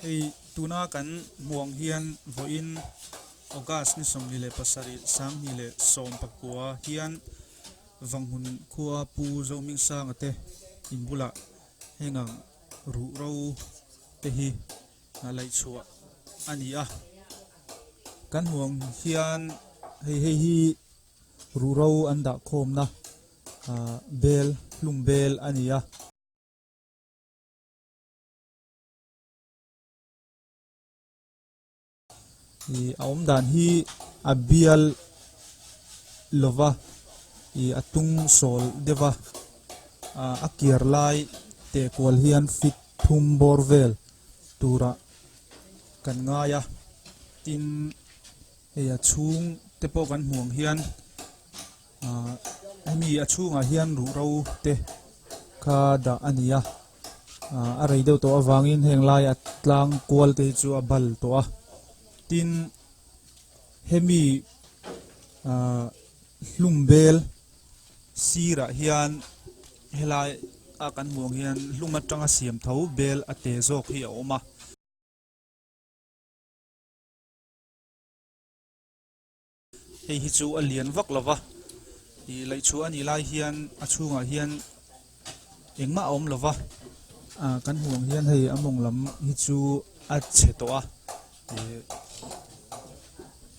Hei tuna kan hmuh ang hian vawiin August ni sawmhnih leh pasarih sanghnih leh sawm pakua hian Vanghun khua Pu Zohming Sanga te in bulah heng ang ruhro te hi laih chhuah a ni a, kan hmuh ang hian hei hei hi-- Ruhro an dah khawmna bel hlung bel a ni a. I a awm dan hi a bial lova i a tung sawl deuhva a kiar lai teh kual hian fit thum bawr vel turah kan ngai a tin. hei a chhung te pawh kan hmuh ang hian ah hemi a chhungah hian ruhro te kha dah a ni a ah a rei deuh tawh avangin heng laia tlang kual te hi chu a bal tawh a tin hemi ah hlum bel sirah hian helai a kan hmuh ang hian hlum atanga siam tho bel a teh zawk hi a awm a. hei hi chu a lian vak lo va ih laih chhuah a nih lai hian a chhungah hian engmah a awm lo va ah kan hmuh ang hian hei a mawng lam hi chu a chhe tawh a ih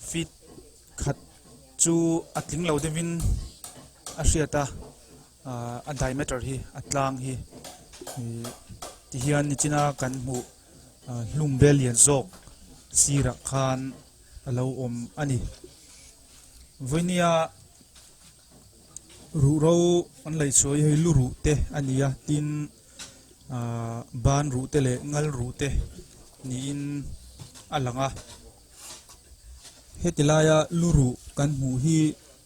feet khat chu a tling lo deuh in a hriat a ah a diameter hi a tlang hi ih ti hian nichina kan hmuh-- Hlungbel lian zawk sirah khan a lo awm a ni. Vawihnia ruhro an laih sawi hei lu ruh te a ni a, tin ban ruh te leh ngal ruh te niin a lang a. Heti laia lu ruh kan hmuh hi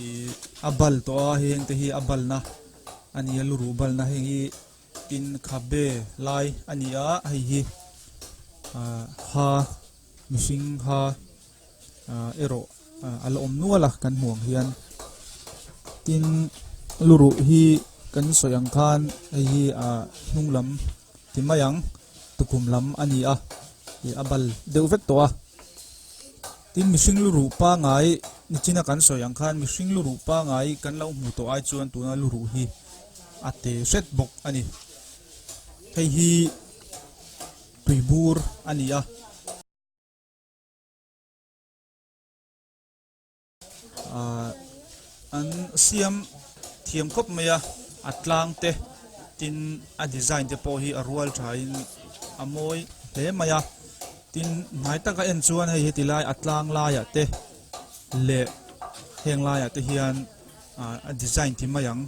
i a bal tawh a heng te hi a bal na ani a lu ruh bal na heng hi in kha be lai ani a hei hi a ha mihring ha a ero a la om nual a kan hmuh ang hian tin lu ruh hi kan sawi ang khan hei hi a hnung lam ti mai ang tukum lam ani a i a bal deuh vek tawh a Tin, mihring luruh pangai nichin a kan sawi ang khan mihring luruh pangai kan lo hmu tawh ai chuan tuna luruh hi a te hret bawk a ni. Hei hi tui bur a ni a. Ahh. An siam thiam khawp mai a, a tlang te tin a design te pawh hi a rual tha in a mawi hle mai a, tin hnai taka en chuan hei heti lai a tlang laiah te leh heng laiah te hian ah a design ti mai ang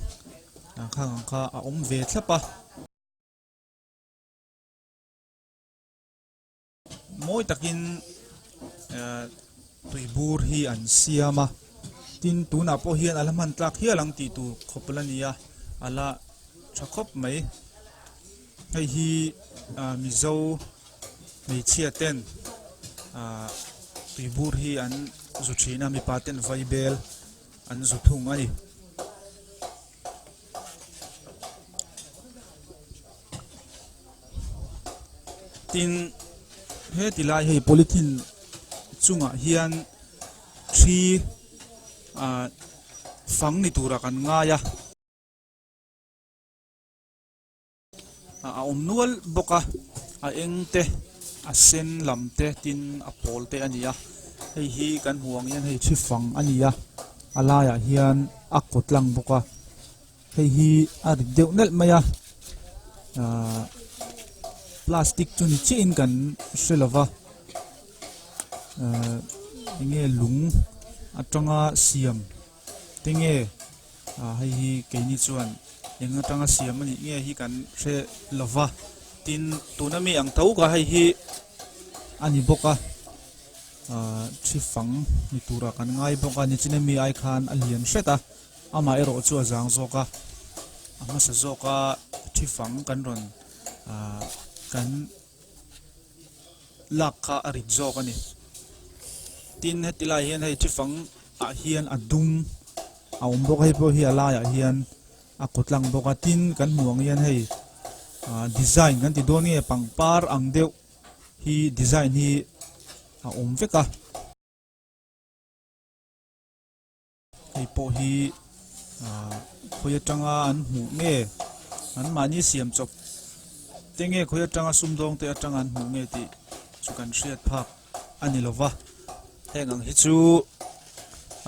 ah khang ang kha a awm ve thlap a. Mawi takin tui bur hi an siam a, tin tunah pawh hian ala hman tlak hial ang tih tur khawp la ni a, ala tha khawp mai. Hei hi Mizo hmeichhia ten tui bur hi an zu thin a, mipa ten vaibel an zu thung a ni. tin he ti lai hei polythene chungah hian thi ah fang ni tura kan ngai a. a awm nual bawk a a eng te a sen lam te tin a pawl te a ni a hei hi kan hmuh ang hian hei thi fang a ni a a laiah hian a kut lang bawk a hei hi a rik deuh nelh mai a aaa plastic chu ni chiah in kan hre lo va aaa enge lung atanga siam-- Tinge hei hi keini chuan eng atanga siam anih nge hi kan hre lova tin tuna mi ang to ka hei hi ani boka thi fang ni tura kan ngai boka ni chine mi ai khan a lian hreta ama ero chu a zang zoka ama sa zoka thi fang kan ron kan lak kha a rit zawk a ni tin heti lai hian hei chi fang ah hian a dum a awm bawk a hei pawh hi a laiah hian a kut lang bawk a tin kan hmuh ang hian hei ah design kan ti dawn nge pangpar ang deuh hi design hi a awm vek a. Hei pawh hi ah khawi atanga an hmuh nge an mahni siam chawp te nge khawi atanga sumdawng te atanga an hmuh nge tih chu kan hriat phak a ni lo va heng ang hi chu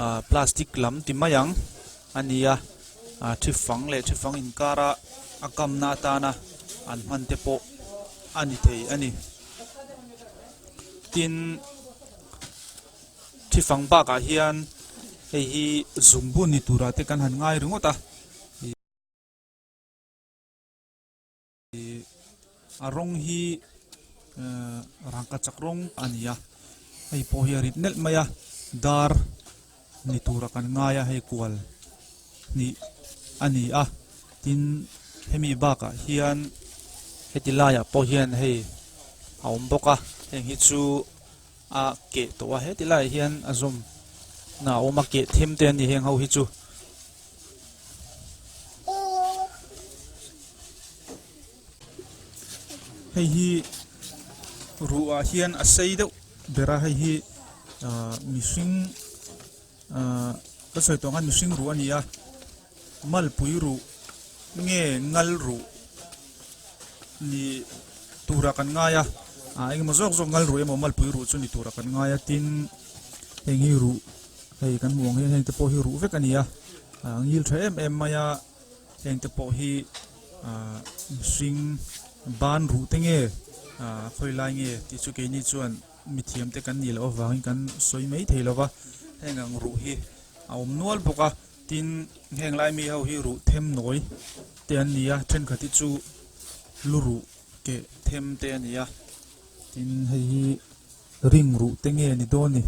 ah plastic lam ti mai ang a ni a ah thi fang leh thi fang inkara a kamna atana an hman te pawh a ni thei a ni tin. Thi fang bakah hian hei hi zung bun ni tura te kan han ngai ringawt a, a rawng hi rangkah chak rawng a ni a, hei pawh hi a rip nelh mai a, dar ni tura kan ngai a, hei kual hnih a ni a, tin hemi bakah hian heti laiah pawh hian hei a awm bawk a, heng hi chu. A keh tawh a, heti laiah hian a zawm na a awm a, keh them te an ni heng ho hi chu. Hei hi ruah ah hian a sei deuh ber a, hei hi mihring ka sawi tawh ang hian mihring ruah a ni a, Malpui ruh nge ngal ruh ni tura kan ngai a, ah engemaw zawk zawk ngal ruh emaw malpui ruh chu ni tura kan ngai a tin heng hi ruh hei kan hmuh ang hian hengte pawh hi ruh vek a ni a, ah ngil tha em em mai a, hengte pawh hi ah mihring ban ruh te nge ah khawilai nge tih chu keini chuan mithiamte kan nih loh avangin kan sawi mai thei lova heng ang ruh hi a awm nual bawk a. Tin, heng lai mi ho hi ruh them nawi te an ni a, thenkhat hi chu lu ruh keh them te a ni a. Tin, hei hi ring ruh te nge ni dawn ni?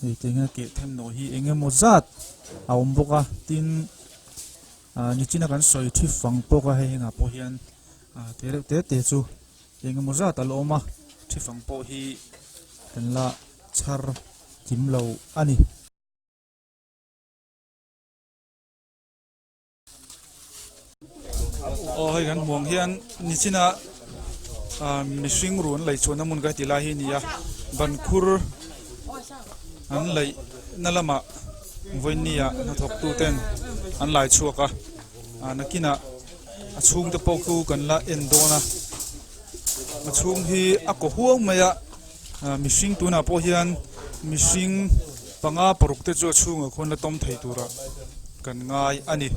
Hei te hian keh them nawi hi eng emaw zat a awm bawk a, tin, ah nichina kan sawi thi fang pawk a, hei hengah pawh hian ah keh reuh te te chu eng emaw zat a la awm a, thi fang pawh hi kan la chhar thim lo a ni. Aw hei kan hmuh ang hian Nichina ah mihring ruh an laih chhuahna hmun ka hre tih lai hi a ni a, ban khur an laih na lamah vawinia hnathawk tu ten an lai chhuak a, ah nakinah a chhungte pawh chu kan la en dawn a, a chhung hi a kaw huau mai a. Ahh mihring tunah pawh hian mihring panga paruk te chu a chhungah khawn la tawm thei tur a kan ngai a ni.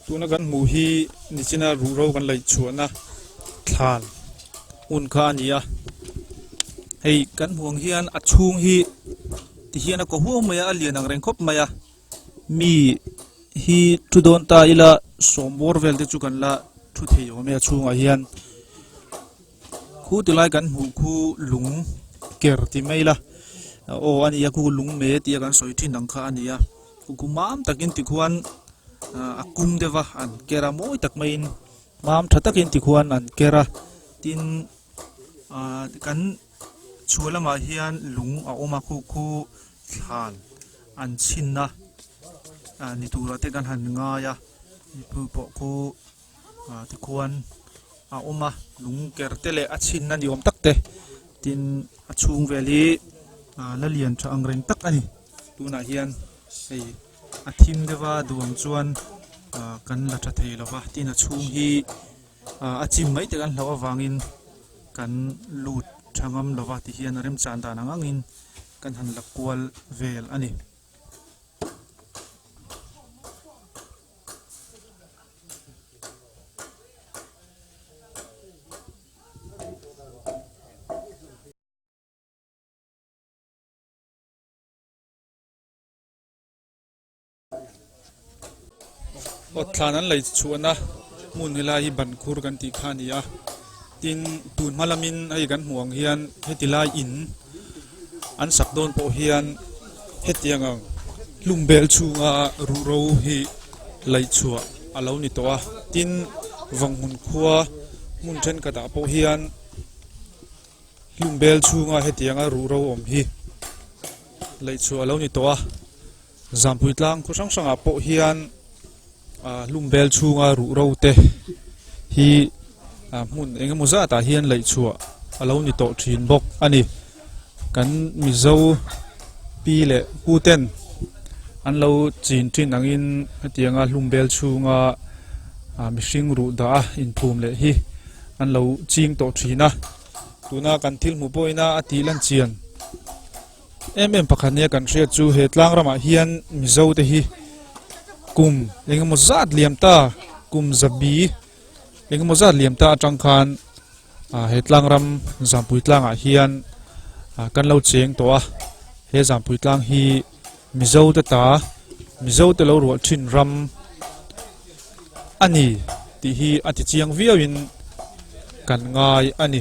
Tuna kan hmuh hi nichina ruhro kan laih chhuahna thlan hun kha a ni a. Hei kan hmuh ang hian a chhung hi ti hian a kaw huau mai a, a lian ang reng khawp mai a. Mi hi thu dawn ta ila sawm bawr vel te chu kan la thu thei awm e a chhungah hian. Khu ti lai kan hmuh khu lung ker ti mai la. O ani a khu lung me ti a kan sawi thin ang kha ani a. Khu khu mam takin ti khuan a kum deva an kera mawi tak mai in mam tha takin ti khuan an kera tin kan chualama hian lung a oma khu khu thlan an chinna ni tura te kan han ngai a. Pu pawh khu ah te khuan a awm a lung ker te leh a chhinna ni awm tak te tin a chhung vel hi ah la lian tha ang reng tak a ni tunah hian hei a thim deuha duang chuan ah kan la tha thei lova tin a chhung hi ah a chim mai tak an hlauh avangin kan lut tha ngam lova tih hian a remchang dan ang angin kan han la kual vel a ni. Awtthlan an lei chuhna hmun hi lai hi Bankhur kan tih kha a ni a, tin tun hma lamin hei kan hmuh ang hian heti lai in, An sak dawn pawh hian hetiang ang hlum bel chhunga ruh ro hi laih chhuah a lo ni tawh a, tin vanghmun khua hmun thenkhatah pawh hian hlum bel chhunga hetianga ruh ro awm hi laih chhuah a lo ni tawh a. Zampuii tlang khaw hrang hrangah pawh hian hlumvel chhunga ruhro te hi hmun eng emaw zatah hian laih chhuah a lo ni tawh thin bawk a ni kan mizo pi leh pu ten an lo chin thin angin hetianga hlumvel chhunga mihring ruh dah a inphum leh hi an lo ching tawh thin a tuna kan thil hmu pawhin a a tih lan chian em em pakhat nia kan hriat chu he tlang ramah hian mizo te hi kum engemaw zat liam ta kum zabi engemaw zat liam ta atang khan a he tlang ram zampui tlangah hian kan lo cheng tawh a he zampui tlang hi mizo te ta mizo te lo rual thin ram ani ti hi ati chiang viau in kan ngai ani